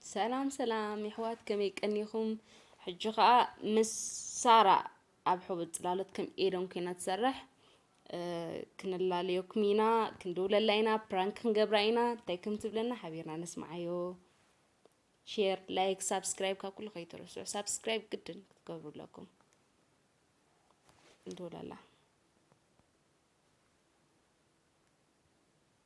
ሰላም ሰላም የሕዋት ከመይ ቀኒኹም? ሕጂ ከዓ ምስ ሳራ ኣብ ሕቡብ ፅላሎት ከም ኤዶም ኮይና ትሰርሕ ክንላለየኩም ኢና፣ ክንድውለላ ኢና፣ ፕራንክ ክንገብራ ኢና። እንታይ ከም ትብለና ሓቢርና ነስምዓዮ። ሼር፣ ላይክ፣ ሳብስክራይብ ካብ ኩሉ ከይትረስዑ። ሳብስክራይብ ግድን ክትገብሩ ኣለኩም። እንደውለላ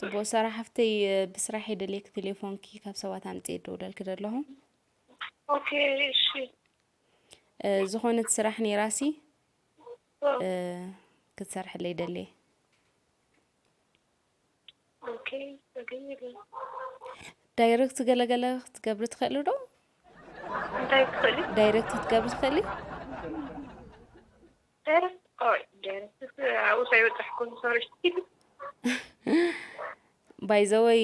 ጽቡቅ ሰራሕ ሓፍተይ ብስራሕ የደልየኪ ቴሌፎንኪ ካብ ሰባት ኣምጽእ ደውለልኪ ደለኹ ኦኬ እሺ ዝኾነት ስራሕ ነይራሲ ክትሰርሐለይ ደልየ ዳይረክት ገለገለ ክትገብሪ ትኽእሊ ዶ ዳይረክት ክትገብሪ ትኽእሊ ኧረ ኦይ ገርስ ኣብኡ ከይበፃሕኩም ሶሪ ባይዘወይ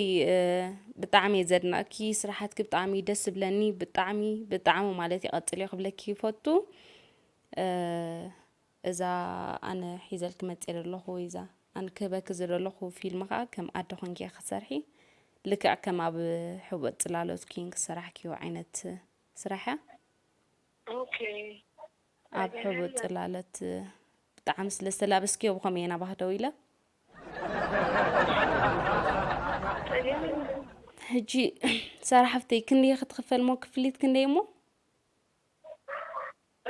ብጣዕሚ እየ ዘድናእኪ ስራሓትኪ ብጣዕሚ እዩ ደስ ዝብለኒ ብጣዕሚ ብጣዕሚ ማለት ይቐፅል እዮ ክብለኪ ይፈቱ እዛ ኣነ ሒዘልኪ መፅእ ዘለኹ ወይ እዛ ኣነ ክህበኪ ዘለኹ ፊልም ከዓ ከም ኣደ ኮንኪ እያ ክሰርሒ ልክዕ ከም ኣብ ሕቡእ ፅላሎት ኪንግ ሰራሕኪዮ ዓይነት ስራሕ እያ ኦኬ ኣብ ሕቡእ ጽላለት ብጣዕሚ ስለ ዝተላበስክዮ ብኸመይ እየን ኣባህ ደው ኢለ ሕጂ ሰራሕፍተይ ክንደይ ክትኽፈል እሞ ክፍሊት ክንደይ እሞ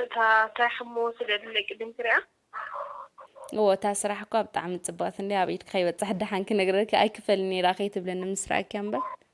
እታ እንታይ ሕሞ ስለ ድለ ቅድም ክሪያ እዎ እታ ስራሕ እኳ ብጣዕሚ ፅብቕቲ እንዲ ኣብ ኢድካ ይበፅሕ ደሓን ክነግረኪ ኣይክፈልን ነይራ ከይትብለኒ ምስራኣኪያ እምበር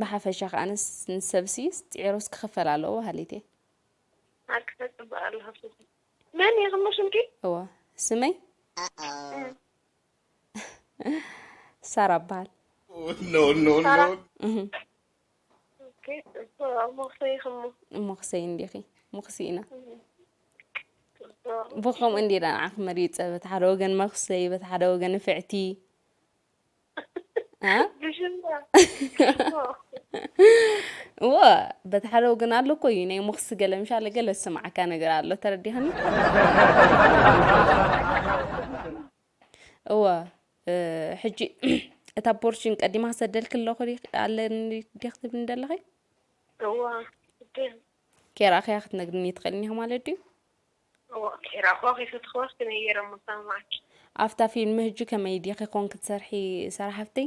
ብሓፈሻ ከኣ ንሰብሲ ጽዒሩስ ክኽፈል ኣለዎ በሃሊት እየ። ሓቂ ተጽብቅ ኣለኻ ሱዚ። መን ኢኺ እሞ ሽምኪ? እወ ስመይ ሳራ እበሃል። ሳራ እህ ኦኬ ጽቡቅ ሞኽሰይ ኢኺ እሞ። ሞኽሰይ እንዲኺ ሞኽሲ ኢና ጽቡቅ ብከምኡ እንዲና ንዓኺ መሪጸ በቲ ሓደ ወገን መኽሰይ በቲ ሓደ ወገን ንፍዕቲ እዎ በቲ ሓደ ወገን ኣሎ እኮ እዩ ናይ ሞክሲ ገለ ምሻለ ገለ ዝስማዓካ ነገር ኣሎ ተረዲሃኒ እዎ ሕጂ እታ ቦርሽን ቀዲማ ሰደልክ ኣለኹ ኣለኒ ዲኽ ትብልኒ ዘለኺ እዋ ኬራኺያ ክትነግርኒ ትኽእልኒ ማለት ድዩ ኣፍታ ፊልም ህጂ ከመይ ዲኪ ኮንኪ ትሰርሒ ሰራ ሓፍተይ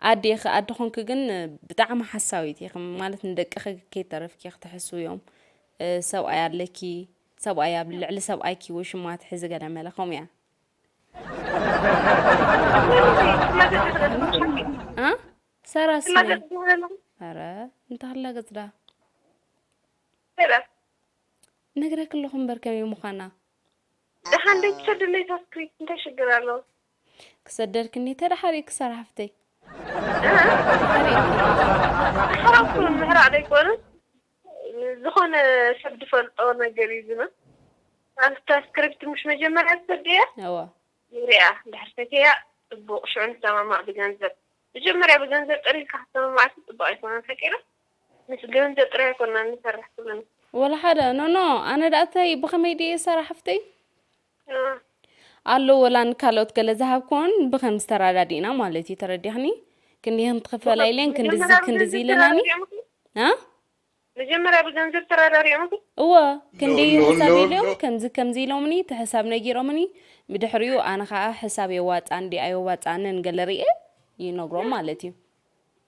ኣዲ ኢኪ ኣዲ ኮንኪ ግን ብጣዕሚ ሓሳዊት ኢኪ ማለት ንደቅኪ ከይተረፍኪ ክትሕስውዮም ሰብኣይ ኣለኪ ሰብኣይ ኣብ ልዕሊ ሰብኣይኪ ወይ ሽማ ትሕዚ ገለመለ ከምኡ እያ ሰራ ስነ ኧረ እንተሃላ ገጽዳ ነግረኪ ኣለኹ እምበር ከመይ ምዃና። ደሓን ደይ ትሰድለይ ሳስክሪት እንታይ ሽግር ኣለዎ። ክሰደልክኒ ተዳሓሪኪ ክሳራ ሓፍተይ። ምሕራቕ ኩሉ ምሕራቕ ደይኮነስ ዝኾነ ሰብ ድፈልጦ ነገር እዩ ዝመ ኣብታ ስክሪፕት ምሽ መጀመርያ ትሰድያ እወ ንሪኣ ድሕር ሰትያ ጽቡቕ ሽዑ ንሰማማዕ ብገንዘብ መጀመርያ ብገንዘብ ጠሪልካ ክትሰማማዕ ጽቡቕ ኣይኮነን ሓቂና ምስ ገንዘብ ጥራይ ኣይኮናን ንሰርሕ ኩልና። ወላ ሓደ ኖኖ ኣነ ደኣ እታይ ብከመይ ድየ ሰራሕ ሓፍተይ እ፣ ኣሎ ወላ ንካልኦት ገለ ዝሃብክዎን ብከምዚ ተረዳዲእና ማለት እዩ ተረዲኽኒ ክንዲ ከም ትኽፈላ ብኸ- ኢለን ክንድዚ መጀመርያ ክንድዚ ብገንዘብ ኢለናኒ ተራዳዲኦም እኮ እ መጀመርያ ብገንዘብ ተራዳዲኦም እኮ እወ ክንዲ ሎ- ሎ- ሕሳብ ሎ- ኢሎም ሎ- ከምዚ ከምዚ ኢሎምኒ እቲ ሕሳብ ነጊሮምኒ ብድሕሪኡ ኣነ ከዓ ሕሳብ የዋፅኣን ዲ ኣየዋፅኣንን ገለ ርኤ ይነግሮም ማለት እዩ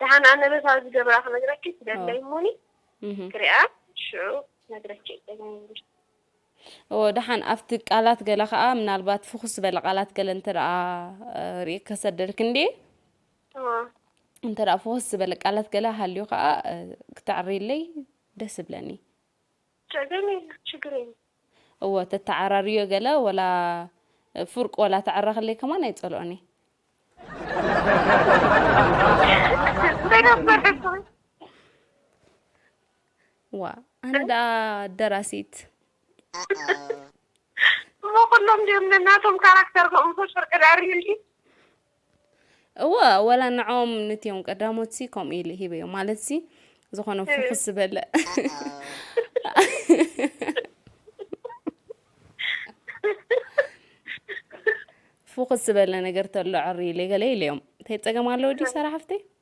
ደሓን ኣነ በታ ዝገብራ ክነግረኪ ትደለይ እሞኒ ክሪኣ ሽዑ ነግረኪ እደለይ እዎ ደሓን ኣብቲ ቃላት ገለ ከዓ ምናልባት ፍኹስ ዝበለ ቃላት ገለ እንተ ርኢ ከሰደልክ እንዲ እንተ ፍኹስ ዝበለ ቃላት ገለ ሃልዩ ከዓ ክተዕርይለይ ደስ ይብለኒ እወ ተተዓራርዮ ገለ ወላ ፉርቅ ወላ ተዕረክለይ ከማን ኣይጸልኦን እየ። ዋ ኣነ ደኣ ደራሲት እሞ ኩሎም ድዮም ነናቶም ካራክተር ከምኡ ፍርቂ ደኣ ሪሊ እወ ወላ ንዖም ንትዮም ቀዳሞት ሲ ከምኡ ኢሉ ሂበዮ ማለት ሲ ዝኾነ ፍኹስ ዝበለ ፍኹስ ዝበለ ነገር ተሎ ዕሪ ኢለ ገለ ኢለዮም እንታይ ፀገም ኣለዎ ድዩ ሰራ ሓፍተይ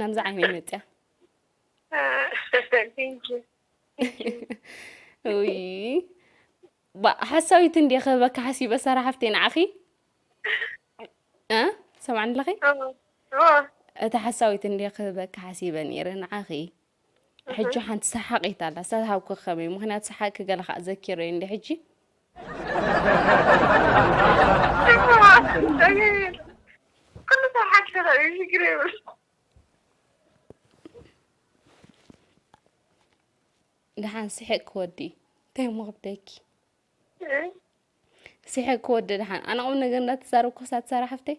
ናብዛ ዓይነይ መፅያ ሓሳዊት እንዲ ክህበካ ሓሲበ ሰራ ሓፍተይ ንዓኺ ሰማዕኒ ኣለኺ እታ ሓሳዊት እንዲ ክህበካ ሓሲበ ነይረ ንዓኺ ሕጂ ሓንቲ ሰሓቂት ኣላ ሰታሃብኩ ከመይ ምክንያቱ ሰሓቅኪ ገለ ከዓ ዘኪረ እንዲ ሕጂ ኩሉ ሰብ ሓቂ ተኸእዩ ሽግር የብሉ ድሓን ስሕቅ ክወዲ እንታይ እሞ ክብደኪ ስሕቅ ክወዲ ድሓን ኣነ ቁም ነገር እንዳተዛረብኩ ክሳብ ትሰራ ሓፍተይ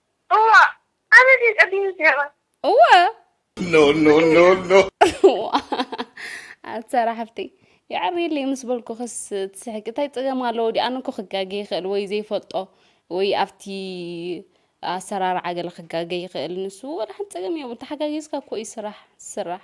እዋእ ኣነ ድየ ቀዲሙ ዝሄባ እወ No, no, no, no. ኣትሰራ ሓፍተይ የዕርየለይ ምስ በልኩኽስ ትስሕቂ እንታይ ፀገም ኣለዎ ድኣ ኣነ እኮ ክጋገ ይኽእል ወይ ዘይፈልጦ ወይ ኣብቲ ኣሰራርዓ ገለ ክጋገ ይኽእል ንሱ ወላ ሓንቲ ፀገም የብሉ ተሓጋጊዝካ እኮ እዩ ስራሕ ዝስራሕ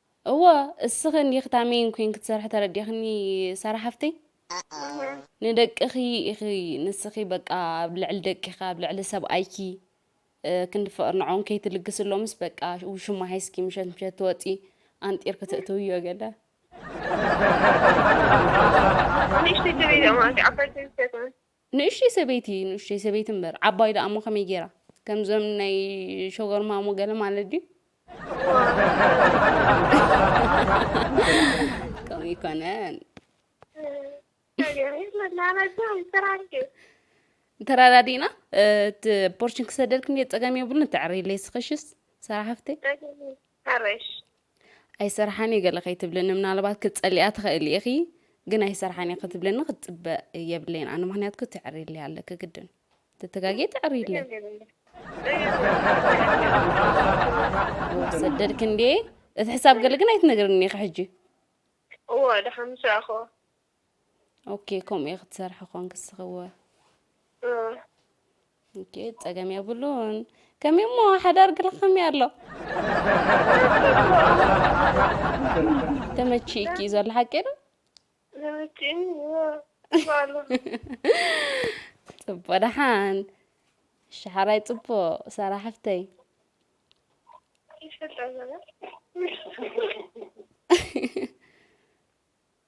እወ እስኺ እንዲኺ ታሜይን ኮይንኪ ትሰርሒ ተረዲእኽኒ ሳራ ሓፍተይ ንደቅኺ ኢኺ ንስኺ በቃ ኣብ ልዕሊ ደቂኺ ኣብ ልዕሊ ሰብኣይኪ ክንዲ ፍቕሪ ንዕኦም ከይትልግስሎምስ በቃ ውሽማ ሒዝኪ ምሸት ምሸት ትወፂ ኣንጢርኪ ትእትውዮ ገለ ንእሽተይ ሰበይቲ ንእሽተይ ሰበይቲ እምበር ዓባይ ደኣ እሞ ከመይ ጌራ ከምዞም ናይ ሸጎር ማሞ ገለ ማለት ድዩ ከምኡ ይኮነን ተራዳዲእና እቲ ፖርሽን ክሰደልክም ጸገም የብሉን ተዕሪለይ ስኸሽስ ሰራሕፍተይ ኣይሰርሓን እየ ገለ ከይትብልኒ ምናልባት ክትጸልያ ትኽእሊ ኢኺ ግን ኣይሰርሓን እየ ክትብልኒ ክትጽበ የብለይን ኣነ ምክንያትኩ ተዕሪለይ ኣለኪ ግድን ትተጋጌ ተዕሪለይ ሰደድክ እንዴ እቲ ሕሳብ ገለ ግን ኣይትነግርኒ ኢኺ ሕጂ እወ ደሓን ምስ ረኣኹዎ ኦኬ ከምኡ እየ ክትሰርሒ ኮን ክስኽወ ኦኬ ፀገም የብሉን ከመይ እሞ ሓዳር ግልኸም እያ ኣሎ ተመቺእኪ እዩ ዘሎ ሓቂ ዶ ፅቡቅ ደሓን ሸሓራይ ፅቡቅ ሰራ ሓፍተይ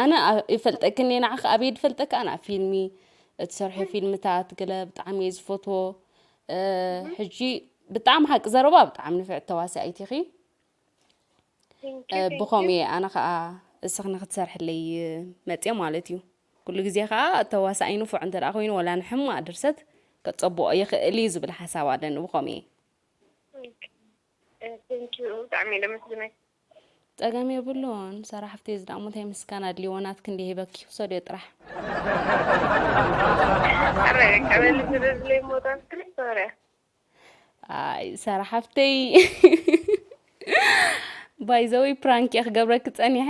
ኣነ ይፈልጠክን እየ ንዓኺ ኣበይ ድፈልጠካ ኣነ ኣብ ፊልሚ እትሰርሑ ፊልምታት ገለ ብጣዕሚ እየ ዝፈትዎ ሕጂ ብጣዕሚ ሓቂ ዘረባ ብጣዕሚ ንፍዕቲ ተዋሳኢት ኢኺ ብኸምኡ እየ ኣነ ከዓ እስኺ ንክትሰርሕለይ መፅየ ማለት እዩ ኩሉ ግዜ ከዓ ተዋሳኢ ንፉዕ እንተ ኮይኑ ወላ ንሕማቅ ድርሰት ከፀብኦ ይኽእል እዩ ዝብል ሓሳብ ኣለኒ ብኸምኡ እየ ቴንኪው ብጣዕሚ እየ ደመስግነኪ ጸገም የብሉን ሰራሕ ፍቲ እዚ ዳሞ እንታይ ምስጋና ኣድልዎ ናት ክንዲ ሂበኪ ክሰድዮ ጥራሕ ኣይ ሰራሕ ሃፍተይ ባይዘወይ ፕራንክ እየ ክገብረኪ ጸኒሐ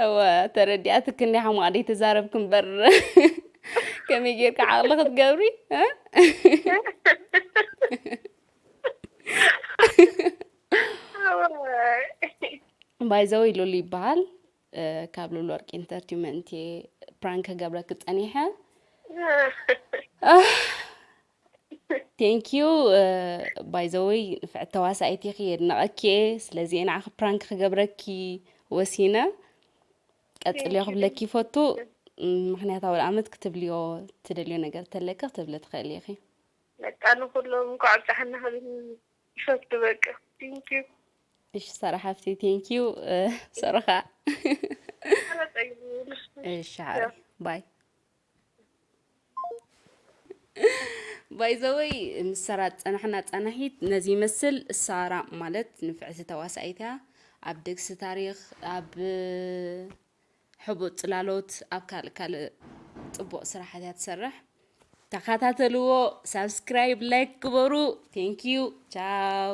እወ ተረዲኣትክ እንዲ ሓማቕ ደይ ተዛረብክ እምበር ከመይ ጌርካ ዓቕሊ ክትገብሪ ባይዘወይ ሉሉ ይበሃል ካብ ሉል ወርቂ ኢንተርቲመንት እየ ፕራንክ ክገብረኪ ፀኒሐ ቴንኪዩ ባይዘወይ ንፍዕት ተዋሳኢት ኢኺ የድነቐኪ እየ ስለዚ እየ ንዓኺ ፕራንክ ክገብረኪ ወሲነ ቀፅልዮ ክብለኪ ይፈቱ ምክንያታዊ ኣመት ክትብልዮ ትደልዮ ነገር ተለኪ ክትብሊ ትኽእሊ ኢኺ በቃ ንኩሎም እንኳዕ ብፅሓና ይፈቱ በቃ ቴንክ ዩ እሺ ሰራ ሓፍቲ ቴንክ ዩ ሰረኻ እሺ ሓሪ ባይ ባይዘወይ ምስ ሰራ ፀናሕና ፀናሒት ነዚ ይመስል ሳራ ማለት ንፍዕቲ ተዋሳኢት እያ ኣብ ደግሲ ታሪክ ኣብ ሕቡእ ጽላሎት ኣብ ካልእ ካልእ ጽቡቅ ስራሓት እያ ትሰርሕ ተኸታተልዎ ሳብስክራይብ ላይክ ግበሩ ቴንክ ዩ ቻው